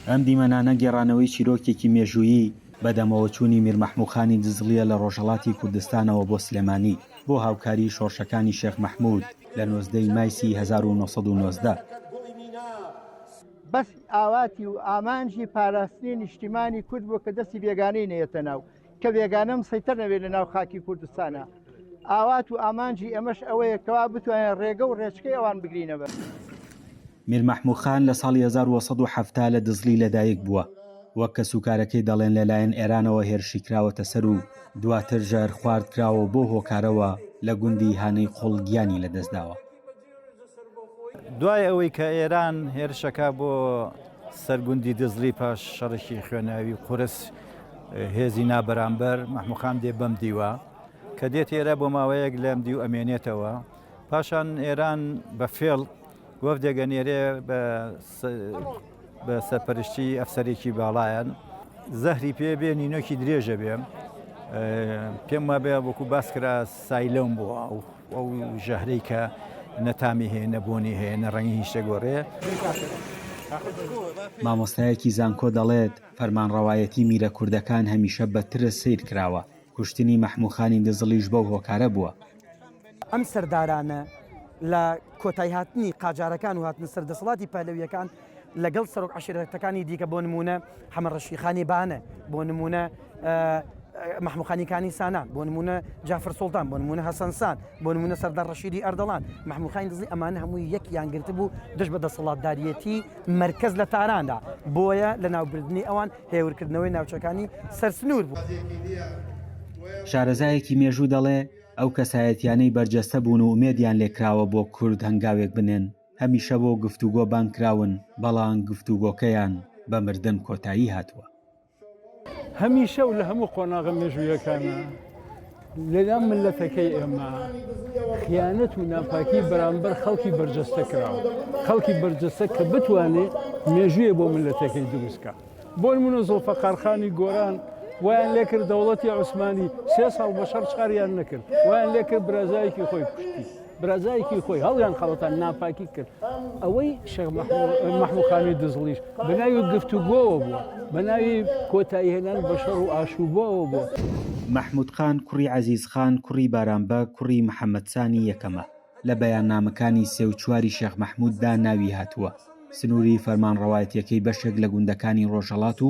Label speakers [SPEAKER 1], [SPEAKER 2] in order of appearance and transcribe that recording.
[SPEAKER 1] ئەم دیمەنانە گێڕانەوەی چیرۆکێکی مێژوویی بەدەمەوەچوونی میرمەحمووخانی دزڵییە لە ڕۆژهەڵاتی کوردستانەوە بۆ سلێمانی بۆ هاوکاریی شۆڕشەکانی شێخ مەحموود لە نۆزدە ی مایسی هەزار و نۆ سەد و نۆزدە.
[SPEAKER 2] بەس ئاواتی و ئامانجی پاراستنی نیشتیمانی کورد بوو کە دەستی بێگانەی نەیەتە ناو. کە بێگانە مسەیتەر نەبێت لە ناو خاکی کوردستانە ئاوات و ئامانجی ئەمەش ئەوەیە کەوا بتوانێت ڕێگە و ڕێچکەی ئەوان بگرینەوە.
[SPEAKER 1] میر مەحموو خان لە ساڵی هەزار و سەد و حەفتا لە دزڵی لەدایک بووە، وەک کەسوکارەکەی دەڵێن لەلایەن ئێرانەوە هێرشی کراوەتە سەر و دواتر ژەهرخوارد کراوە و بەو هۆکارەوە لە گوندی هانەی خوڵ گیانی لەدەستداوە.
[SPEAKER 3] دوای ئەوەی کە ئێران هێرشەکە بۆ سەرگوندی دزڵی پاش شەڕێکی خوێناوی و قورس هێزی نابەرامبەر مەحموقام دێ بەم دیوە کە دێت ئێرە بۆ ماوەیەک لەم دیو ئەمێنێتەوە پاشان ئێران بە فێڵ وەفدێگە نێرێ بە بە سەرپەرشتی ئەفسەرێکی باڵایەن زەهری پێ بێ نینۆکی درێژە بێ پێم وابێ وەکو باس کرا سایلەم بووە ئەو ئەو ژەهرەی کە نەتامی هەیە نەبوونی هەیە نە ڕەنگی هیچ شتێگۆڕێ.
[SPEAKER 1] مامۆستایەکی زانکۆ دەڵێت، فەرمانڕەوایەتی میرە کوردەکان هەمیشە بە ترس سەیر کراوە، کوشتنی مەحموو خانی دزڵیش بەو هۆکارە بووە، ئەم
[SPEAKER 4] سەردارانە لە کۆتای هاتنی قاجارەکان و هاتنە سەر دەسەڵاتی پەهلەویەکان لەگەڵ سەرۆک عشرەتەکانی دیکە بۆ نمونە حەمە ڕەشیخانی بانە بۆ نمونە محموخانیکانی سانان بۆ نمونە جافر سلتان بۆ نمونە هەسەنسان بۆ نمونە سەردار ڕەشیدی ئەردەڵان محموخانی دزی ئەمانە هەمووی یەک یانگررت بوو دژ بە دەسەڵاتداریەتی مرکز لە تاراندا بۆیە لە ناوبردننی ئەوان هێورکردنەوەی ناوچەکانی سەر سنوور بوو. شارەزایەکی
[SPEAKER 1] مێژوو دەڵێ، ئەو کەسایەتیانەی بەرجەستە بوون و ئومێدیان لێ کراوە بۆ کورد هەنگاوێک بنێن، هەمیشە بۆ گفتوگۆ بانگ کراون، بەڵام گفتوگۆکەیان بە مردن کۆتایی هاتووە.
[SPEAKER 5] هەمیشە و لە هەموو قۆناغە مێژوویەکانا لەلام ملەتەکەی ئێمە خیانەت و ناپاکی بەرامبەر خەڵکی بەرجەستە کراوە خەڵکی بەرجەستە کە بتوانێت مێژویە بۆ ملەتەکەی دروستکە بۆن من و زۆفەقارخانی گۆران وایان لێکرد دەوڵەتی عوسمانی سێ ساڵ بە شەڕ چاریان نەکرد وایان لێکرد برازایکی خۆی کوشتی برازایکی خۆی هەڵیان خەڵەتان ناپاکی کرد ئەوەی شەخ مەحموخانی دزڵیش بەناوی گفتوگۆوە بووە بەناوی کۆتایی هێنان بە شەڕ و ئاشوبەوە بووە. مەحمود خان
[SPEAKER 1] کوڕی عەزیز خان کوڕی بارامبە کوڕی محەمەدسانی یەکەمە. لە بەیاننامەکانی سێ و چواری شێخ مەحمود دا ناوی هاتووە سنووری فەرمانڕەوایەتیەکەی بەشێک لە گوندەکانی ڕۆژهەڵات و،